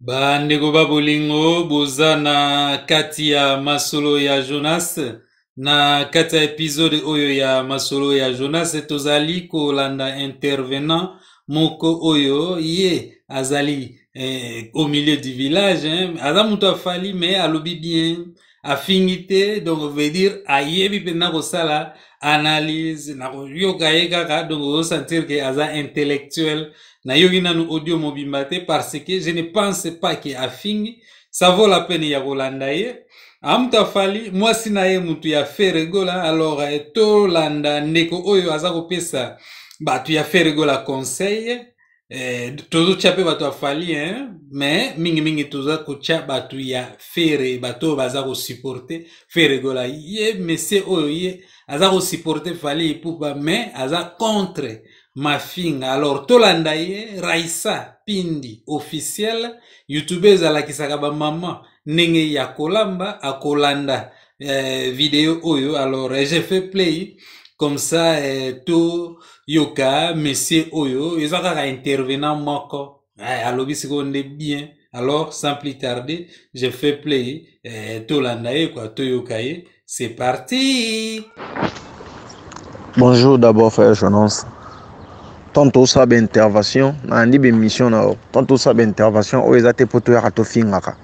bandeko ba bolingo boza na kati ya masolo ya jonas na kati ya episode oyo ya masolo ya jonas tozali kolanda intervenant moko oyo ye azali eh, au milieu du village hein. aza moto afali mais alobi bien afingi te donc veut dire ayebi mpenza kosala analyse na koyoka ye kaka donc ozosentir ke aza intellectuel nayoki nanu audio mobimba te parce que je ne pense pas ke afingi ça vaut la peine ya kolanda ye amutu afali mwasi na ye mutu ya feregola alors eh, tolanda ndeko oyo aza kopesa bato ya feregola conseil eh, tozotya mpe bato ya fali hein? mais mingimingi toza kotya bato ya fere bato oyo baza kosuporte fere gola ye mesie oyo ye aza kosuporte fali ipupa mais aza contre mafinga alors tolanda ye raisa pindi officiel youtube ezalakisaka bamama ndenge ya kolamba akolanda eh, video oyo alors eh, j'ai fait play comme ça eh, to yoka monsieur oyo eza kaka intervenant moko eh, alobi sikoyo nde bien alors sans plus tarder j'ai fait play eh, tolanda ye kua toyoka ye c'est parti Bonjour d'abord frère Jonas. Tant osala ba intervention, nalandi ba emission na yo. Tant osala ba intervention oyo eza te mpo toyaka tofingaka.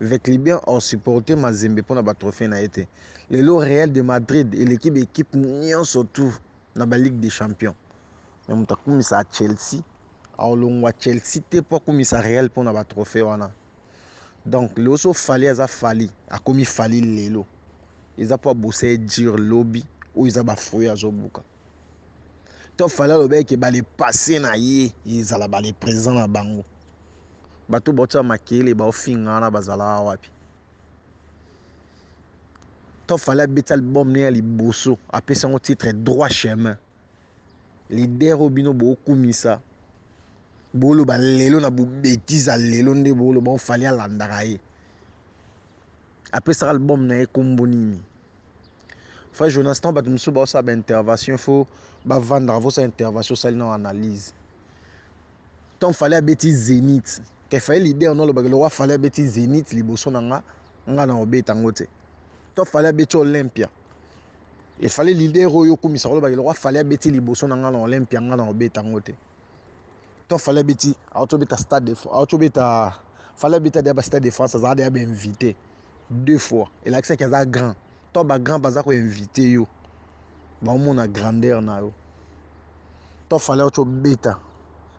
Veclibien au supporter Mazembe pona ba trophee na ye te. Lelo Real de Madrid eleki ba equipe nionso tout na ba Ligue des Champions. Mais moto akumisa Chelsea aolongwa Chelsea te po akumisa Real pona ba trophee wana. Donc lelo so Fally aza Fally akomi Fally lelo eza po abosa ye dur lobi oyo eza ba fruits azobuka. to fale alobaki ke bale passe na ye ezala bale présent na bango bato baotya makele baofinga wana bazalaka wapi to fale abeti album ne ya liboso apesi yango titre droit chemin lider oyo bino bookumisa boloba lelo na bobetise ya lelo nde boloba ofali alandaka ye apesaka album na ye nkombo nini Frère Jonas, tant bato mosusu baosala ba intervention, il faut bavandaka vosa intervention osali na analyse. Tant fallait abeti Zénith, ke fallait leader no alobaka lokola fallait abeti Zénith liboso na nga, nga na obeta yango te. Tant fallait abeti Olympia, il fallait leader oyo okumisa kolobaka lokola fallait abeti liboso na nga na Olympia, nga na obeta yango te. to fallait abeti auti obeta stade de auti obeta fallait abeta deya bastade de france azalaka deya bainvité deux fois elakisaki aza grand to bagrand baza koinvite yo baomona grandeur na yo to fallait auti obeta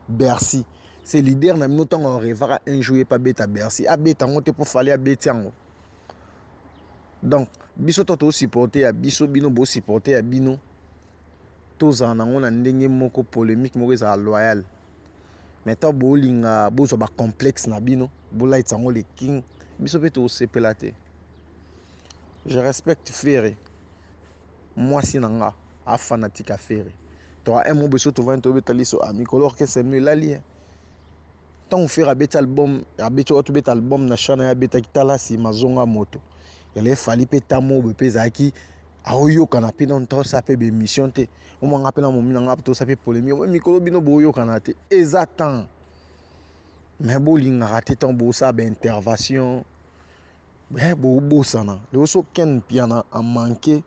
bercy c'est leader na bino ntango arevaka un jour ye mpe abeta bercy abeta yango te mpo fallait abeti yango donc biso to tosupporte ya biso bino bosupporte ya bino Tozala na yango na ndenge moko polemique moko ezala loyal. Mais tant bolinga bozwa ba complexe na bino, bolayitisa yango le king, biso pe tokosepela te. Je respecte Ferre. Mwasi na nga a fanatique ya Ferre. To un mot biso tovandi tobeta liso a mikolo orchestre no elali. Eh. ntango fere abeti album abeti oyo tobeta album na chana ye abetaki talasi mazonga moto yala efali mpe tamobe mpe ezalaki aoyokana mpe nano tosala mpe baémission te omwa nga mpe na momi na nga tosala mpe polémique oyo mikolo bino boyokana te eza temps mais bolingaka te ntango bosala baintervention eh, bobosana lelo so ken mpiana amanke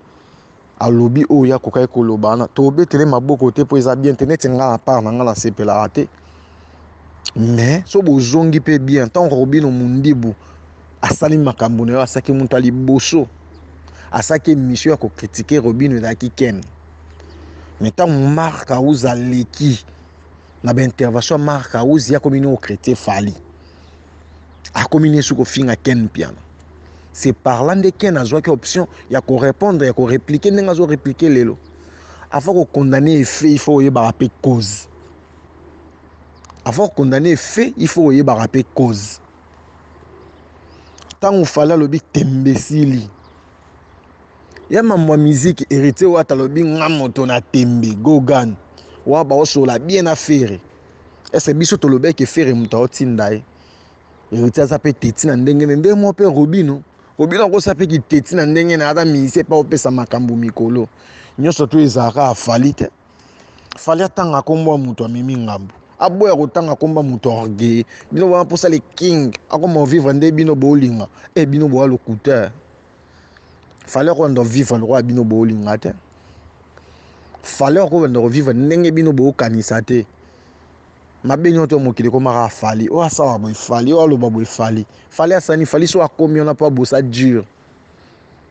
alobi oyo ye akokaki koloba wana tobetele maboko te mpo eza bien te neti ngai apart na ngai nasepelaka te mais so bozongi mpe bien ntango kakobino mondibu asali makambo na yo asaki moto ya liboso asaki emission ya kokritike robino ezalaki ken me ntango mark aus aleki na baintervention ya mark aus ye akomi nini okritike fali akomi nini soki kofinga ken mpiana c'est par là nde ken azwaki option ya korépondre ya koreplike ndenge azoreplike lelo avant kokondane efe il faut oyebaka mpe cause avant kokondane efe il faut oyebaka mpe cause ntango fale alobi tembesili ya mambo ya miziki heritier wata alobi nga moto na tembe gogan wa baosola bien na fere ese biso tolobeke fere moto aotinda ye heritier aza mpe teti na ndenge ne ndenge moko mpe robino robino akosa mpe kiteti na ndenge na aza misie mpe aopesa makambo mikolo nyonso to ezalaka afali te fali atanga kombo ya moto amemi ngambo aboya kotanga komba moto orgueil bino bana mposa le king akoma ovivre nde bino bolinga e eh, bino boya lokuta fale akoyanda ovivre lokola bino bolinga te fale akoyanda kovivre ndenge bino bokanisa te mabe nyonso ya mokili ekomaka afali oyo asala boye fali oyo aloba boye fali fali asani fali so akomi wana mpo abosa dure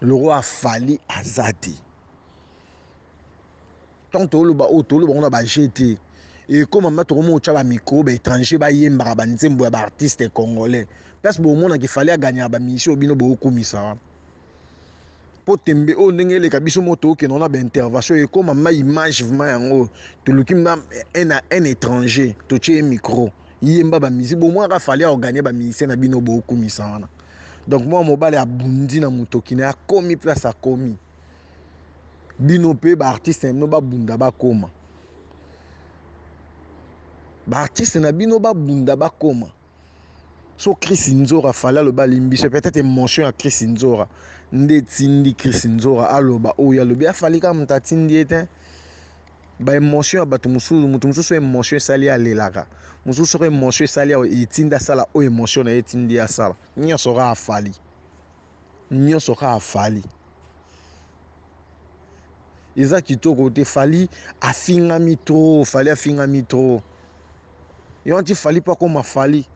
le roi fali aza te ntango toloba oyo toloba ngo na baje te ekoma ma tokomi otya bamikro baétranger bayembaka banzembo ya baartiste congolais place bomonaka efali aganyaka bamisio bino bokumisa wana mpo tembe oyo ndenge eleka biso moko tookenda wana baintervention ekoma ma image vraimen yango toluki ma un étranger totye ye micro yemba bamisi bomonaka fali aoganye bamisien na bino bokumisa wana donc mwana mobali abundi na motoki na ye akomi place akomi bino mpe baartiste na bino babunda bakoma baartiste na bino babunda bakoma so chris nzora fali aloba alimbise peut-être émotion ya chris nzora nde etindi chris nzora aloba oyo alobi afali kaka moto atindi ye te ba emotion ya bato mosusu moto mosusu emotion esali alelaka mosusu soko emotion esali etindi asala oyo emotion na ye etindi asala nyonso kaka afali nyonso kaka afali eza kitoko te fali afingami trop fali afingami trop yo anti fali mpo akoma fali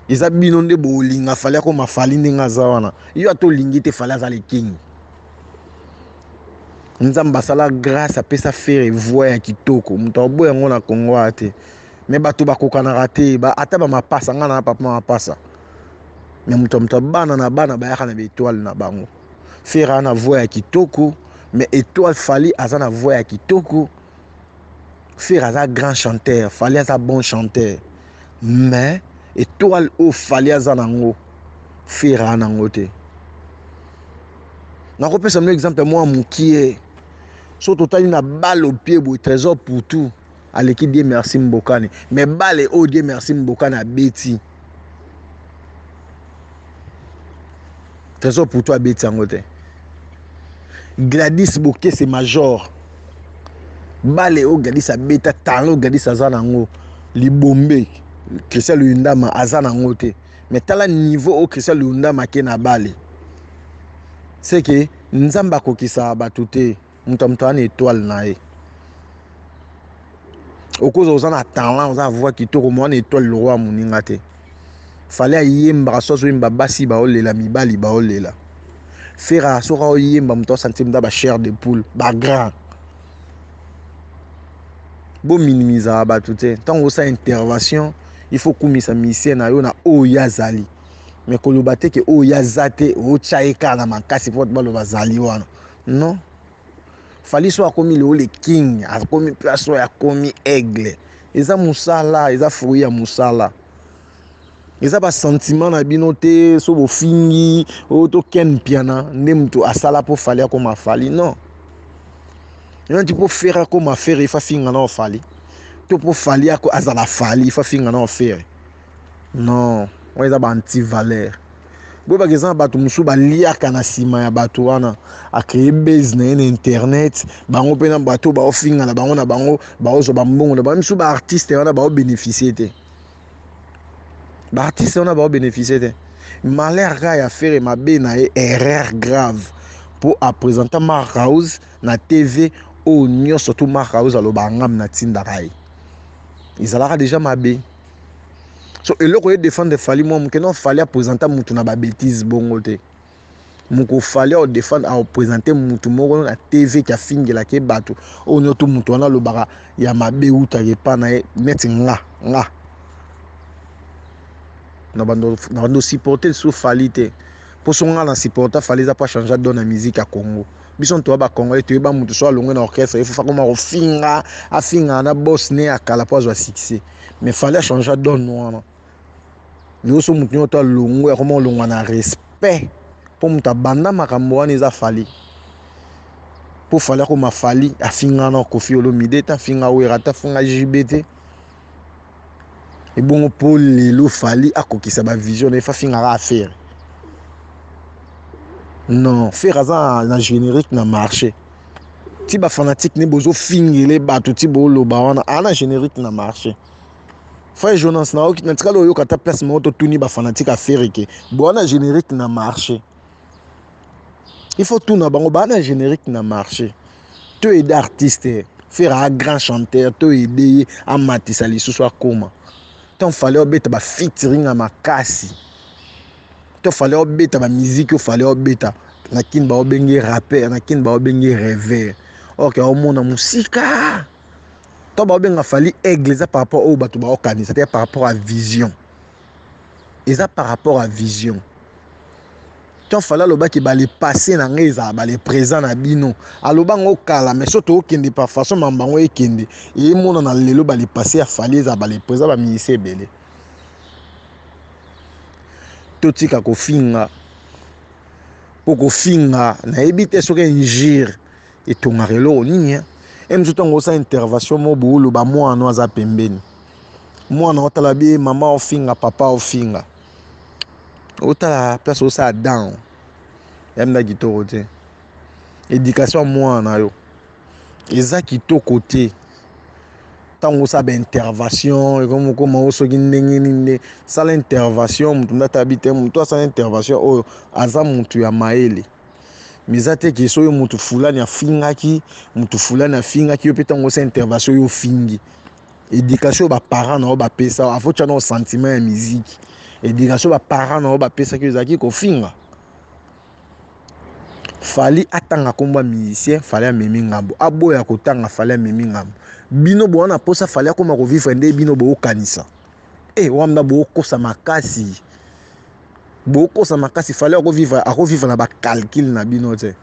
eza bino nde bolinga fali akoma fali ndenge aza wana yo ata olingi te fali aza lekingi nzambe asala grâce apesa fere voix ya kitoko moto aboya yango na congo aya te me bato bakokanaka te ba, ata bamapasa ngai na papa mapasa me moto ya moto bana na bana bayaka na baetoile na bango fere aa na voix ya kitoko me etoile fali aza na voix ya kitoko fere aza grand chanteur fali aza bon chanteur mais etoile oyo fali aza nango fera a nango te nakopesa mino exemple mwa mokie so totali na bale opie boye trésor poutou aleki die merci mbokani mais bale oyo die merci mbokani abeti trésor pour toi abeti yango te gladis bokese major bale oyo gladis abeta talent oyo gladis aza na yango libombe christian luyundama aza na yango te mais tala niveau oyo christian luyundama ake na bale seke nzambe akokisaka bato te moto ya moto aza na etoile na ye okoza oza na talent oza na voix kitoko moa na etoile lokwa ya moninga te fale ayembaka so azoyemba basi baolela mibali baolela fera soki aoyemba moto asanti moto ya bachaire de poule bagrand bominimizaka bato te ntango osala intervention il faut okumisa misien na yo na oyo ye azali me koloba te ke oyo ye aza te otya ye kaka na makasi mpo bato baloba azali wana non fali so akomi lelo le king akomi place oyo akomi aigle eza mosala eza fruit ya mosala eza basentiment na bino te so bofingi oyo oh, to ken mpiana nde moto asala mpo fali akoma fali non ena ti mpo fere akoma fere ifa finga na ofali to mpo fali azala fali ifa finga na ofere Non, wana eza ba anti valeur. Boyeba ke eza na bato mosusu baliaka na nsima ya bato wana akreye base na ye na internet, bango mpe na bato oyo baofinga na bango na bango baozwa bambongo na bango. Misu baartiste wana baobeneficie te, baartiste wana baobeneficie te. Malheur kaka ya fere mabe na ye erreur grave mpo apresenta Mark House na TV oyo nyonso tu Mark House alobaka ngambi natindaka ye ezalaka deja mabe. so eloko ye defendre fali mwa moke non fali apresenta mutu na babetise bongo te moko fali aodefendre aopresente mutu moko na tv ke afingelaka ye bato oyo niotu mutu wana alobaka ya mabe utaka epa na ye neti nga nga na bando supporte lisusu fali te mposo nga na supporta fali eza mpo achange adona musique ya congo biso ntoya ba congolais toyeba moto so alongwe na orchestre ye fufa koma kofinga afingaka na bos ne ya kala mpo azwa succès mais fale achangea donne wana lelo so moto nyonso to alongwe akoma kolongwa na respect mpo moto abanda makambo wana eza fale mpo fale akoma fali afingana kofi olomide te afinga wera te afinga jb te ebongo mpo lelo fali akokisa bavision na ye fafingaka afere non fere aza na générique na marché ti bafanatique nde bozofingele bato ti boloba wana aa na générique na marché fai jonas natikali oyoka ata place moko totuni bafanatique afere ke boa na générique na marché il faut tuna bango baa na générique na marché to aide artiste eh. faire a grand chanteur to aide ye amatisa lisusu akoma to fallait obeta ba featuring ya makasi to fallait obeta ba musique yo fallait obeta na kin ba obenge rappeur na kin ba obenge rêveur or ke omona musika to ba obenga fali aigle eza par rapport oyo bato baokanisa te par rapport à vision eza par rapport à vision to fala alobaki bale passé na ngai ezala bale présent na bino aloba yango kala mais so tookende par façon mambo yango ekende emonana lelo bale passé ya fali ezala bale présent baminisi ebele totika kofinga mpo kofinga nayebi te soki injure Etongaka eloko nini hein? Emi zo tango osa intervention mo boulu ba mwana no aza pembeni. Mwana otala bie mama ofinga papa ofinga. Otala place osa down. Yamda kitoko te. Education mwana na yo. Eza kitoko te. Tango osa ba intervention ekomo koma osoki ndenge ninde sala intervention mutu ndata bite mutu asala intervention oyo aza mutu ya maele. mais eza te ke soki mutu fulani afingaki mutu fulani afingaki yo mpe ntango osa intervention yo ofingi éducation ba parents na yo bapesa yo afotya na yo sentiment ya miziki éducation ba parents na yo bapesaki yo ezalaki kofinga fali atanga nkombo ya musicien fali amemi ngambo aboya kotanga fali amemi ngambo bino boa na mposa fali akoma kovivre nde bino bookanisa e eh, wamna bookosa makasi bokosa makasi fale ako vivre ako vivre na ba calcul na bino te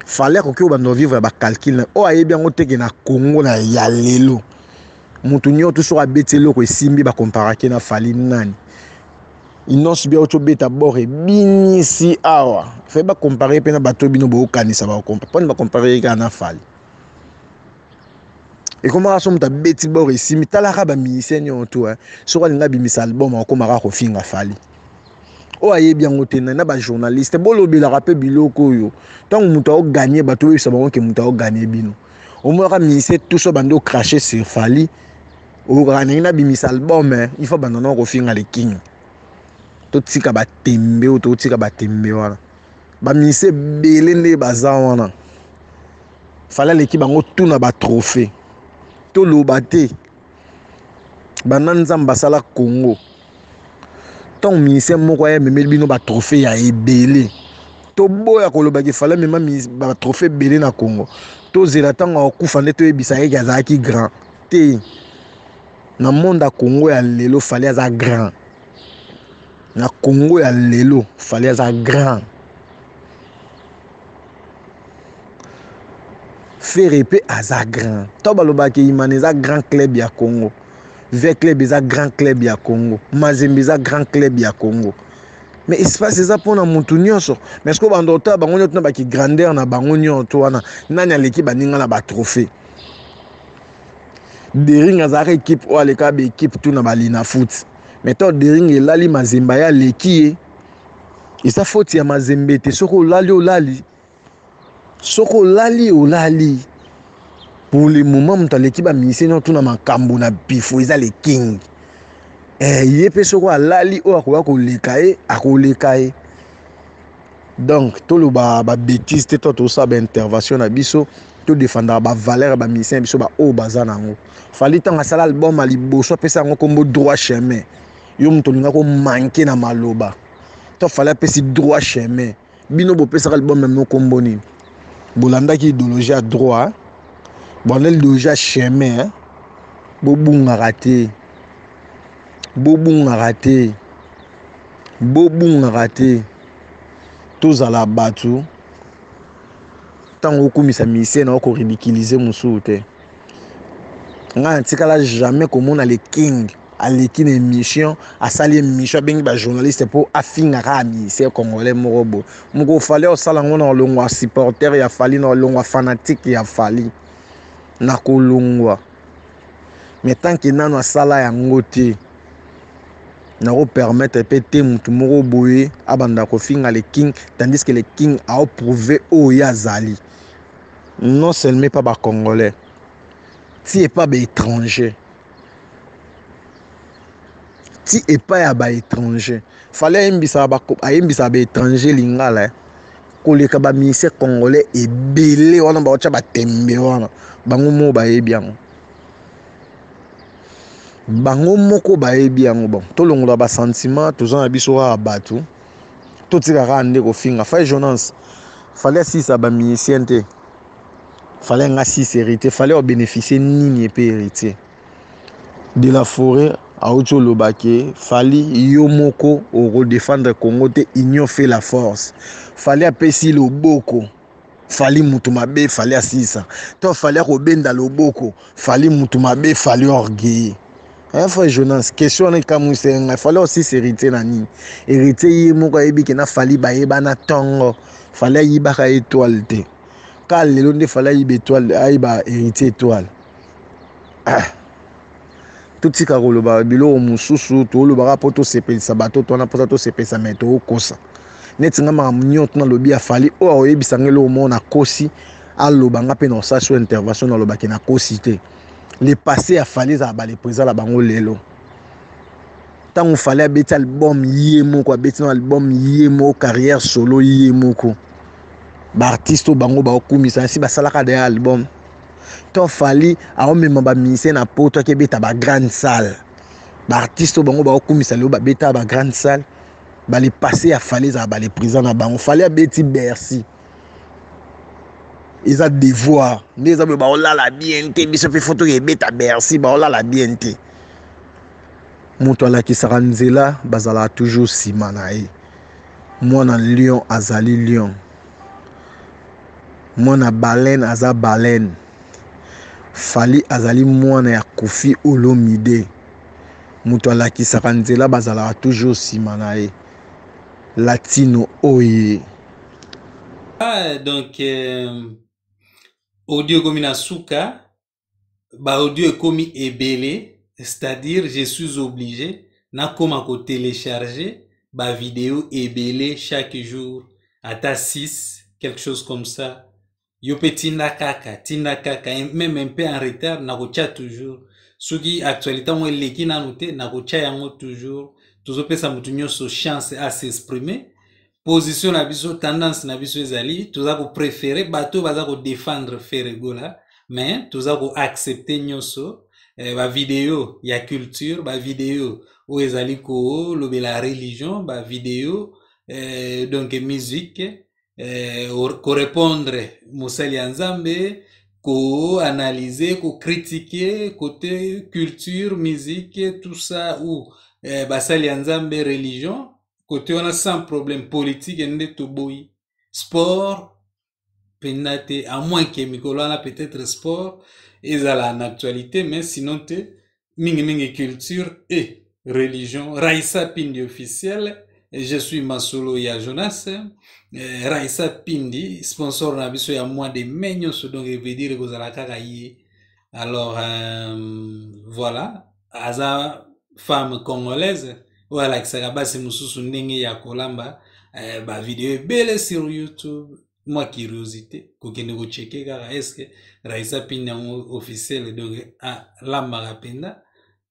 fale akoki obanda vivre ya ba calcul na oyo ayebi yango teke na Congo na ya lelo mutu nyoto soki abeti eloko esimbi ba comparake na fali nani inonce bia oco beta bord ebinisi awa fai bakompare mpe na bato bino bokokanisa bakompare mpona bakompare ye kaka na fali ekomaka so moto abeti bor esimi talaka bamusicien nyonso to eh. soki alingi abimisa album akomaka kofinga fali oyo ayebi yango te na bajournaliste bolobelaka mpe biloko oyo ntango moto aoganye bato oyebisa bango ke moto aoganye bino omonaka musicien tuso bandi ocrache sur fali oyokaka ndenge nabimisa album eh. il faut banda nao kofinga le king totika batembe oyo totika batembe wana baminisi ebele nde baza wana fale aleki bango tu na batrophée toloba te banda nzambe asala congo ntango minisien moko aya ememeli bino batrophée ya ebele toboya kolobaki fale amema batrophée ebele na congo tozela ntango akufa nde toyebisa yeke azalaki grand te na monde ya congo ya lelo fale aza grand Na Congo ya lelo Fally aza grand. Ferre pe aza grand. To balobaka ke Imana eza grand club ya Congo. Via Club eza grand club ya Congo. Mazembe eza grand club ya Congo. Mais espace eza pona mutu nyonso. Mais siko bando otala bango nyoto na baki grandeur na bango nyoto wana nani aleki baninga na ba trophée. Dering azalaka equipe oyo aleka ba equipe tout na ba Linafoot. Mais to dering elali mazemba ya leki ye. Eza faute ya mazembe te soko olali olali. Soko olali olali. Pour le moment moto aleki ba musicien nyo tuna makambo na bifo eza le king. Eh ye pe soko alali oyo akoya koleka ye akoleka ye. donc toloba ba betise te to tosala ba intervention na biso to defendaka ba valeur ya ba musicien ya biso baoyo baza na yango fali ntango asala album ya liboso apesa yango nkombo droit chemin yo moto olinga komanke na maloba to fali apesi droit chemin bino bopesaka album yango nkombo nini bolandaki idéologie ya droit bondeli idéologie ya chemin bobungaka te bobungaka te bobungaka te tozala bato ntango okumisa misie na okoridikilize mosusu te ngai natikala jamais komona le king aleki na émission asali émission abengi bajournaliste mpo afingaka ya misie congolais moko boye moko fali osala yango na olongwa supporter ya fali na olongwa fanatike ya fali na kolongwa mais tanke nano asala yango te nako permettre pe te mutu moko boye abanda kofinga le king tandis que le king ao prouver oyo ye azali non seulement epa ba congolais ti epa ba étranger ti epa ya ba étranger fale ayembisa ba ayembisa ba étranger lingala eh? koleka ba ministère congolais ebele wana baotya batembe wana bango moo bayebi yango bango moko bayebi yango bon tolongola ba sentiment toza na biso kaka bato totika kaka nde kofinga fai jonance fale asisa ba musicien te fale nga sisa héritier fale obénéficie nini epe héritier de la forêt auti oloba ke fali yo moko okodefendre congo te union fait la force fale apesi loboko fali mutu mabe fali asilisa to fali akobenda loboko fali mutu mabe fali orgueilleux hein frère Jonas question wana ekamwisaka ngai fali asilisa héritier na nini héritier ye moko ayebi ke na fali bayebana tongo fali ayibaka etoile te ka lelo nde fali ayiba etoile ayiba héritier etoile ah. totika koloba biloko mosusu tolobaka mpo tosepelisa bato to wana mposa tosepelisa me tokosa neti nga makambo nyonso nalobi afali oyo akoyebisa nga eloko moko nakosi aloba nga mpe na osasi oyo intervention nalobaki nakosi te le passé afali ezala balepreza na bango lelo ntango fali abeti album ye moko abeti na album ye moko carrière solo ye moko baartiste oyo bango baokumisa nsi basalaka daya album to fali aomema ba musicien na poto ake beta ba grande salle ba artiste oyo bango baokumisa lelo babeta ba grande salle bale passe ya fali ezala bale présent na bango fali abeti bercy eza devoir nde eza boye baolala bien te biso mpe fo toke ebeta bercy baolala bien te moto alakisaka nzela bazalaka toujours nsima na ye mwana lion azali lion Mwana baleine aza baleine. Fally azali mwana ya Koffi Olomide. Moto alakisaka nzela bazalaka toujours nsima na ye. Latino oye. Ah, donc euh, audio ekomi na suka. baaudio ekomi ebele c'est-à-dire je suis obligé nakoma kotelecharge bavideo ebele chaque jour ata 6 quelque chose comme ça yo mpe tinda kaka tinda kaka meme un peu en retard nakotya toujours soki actualité yango eleki nanu te nakotya yango toujours tozopesa moto nyonso chance a s'exprimer position na biso tendance na biso ezali toza koprefere bato oyo baza kodefendre feregola mais toza koaccepte nyonso eh, bavideo ya culture bavideo oyo ezali kolobela religion bavideo eh, donc musique eh, korepondre mosali ya nzambe koanalyse kokritike kote culture musique tout ça ou eh, basali ya nzambe religion kote wana sans problème politique nde toboyi sport mpenza te à moins ke mikolo wana peut-être sport ezala na actualité mais sinon te mingimingi culture et religion raisa pindi officiel je suis masolo ya jonas eh, raisa pindi sponsor na biso ya mois de mai nyonso donc evedire kozala kaka ye alors euh, voilà aza femme congolaise oyo alakisaka basi mosusu ndenge ya kolamba eh, bavideo ebele sur youtube mwa curiosité kokende kocheke kaka eske raisa pini yango officiel donc alambaka mpenza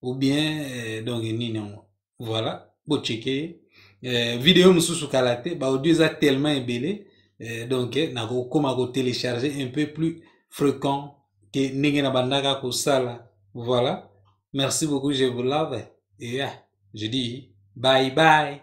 ou bien eh, donc nini yango voilà boceke ye eh, video mosusu kala te baaudio eza tellement ebele eh, donc eh, nakokoma kotelecharge un peu plus fréquent ke ndenge na bandaka kosala voilà merci beaucoup je vous love et yeah, je dis bye bye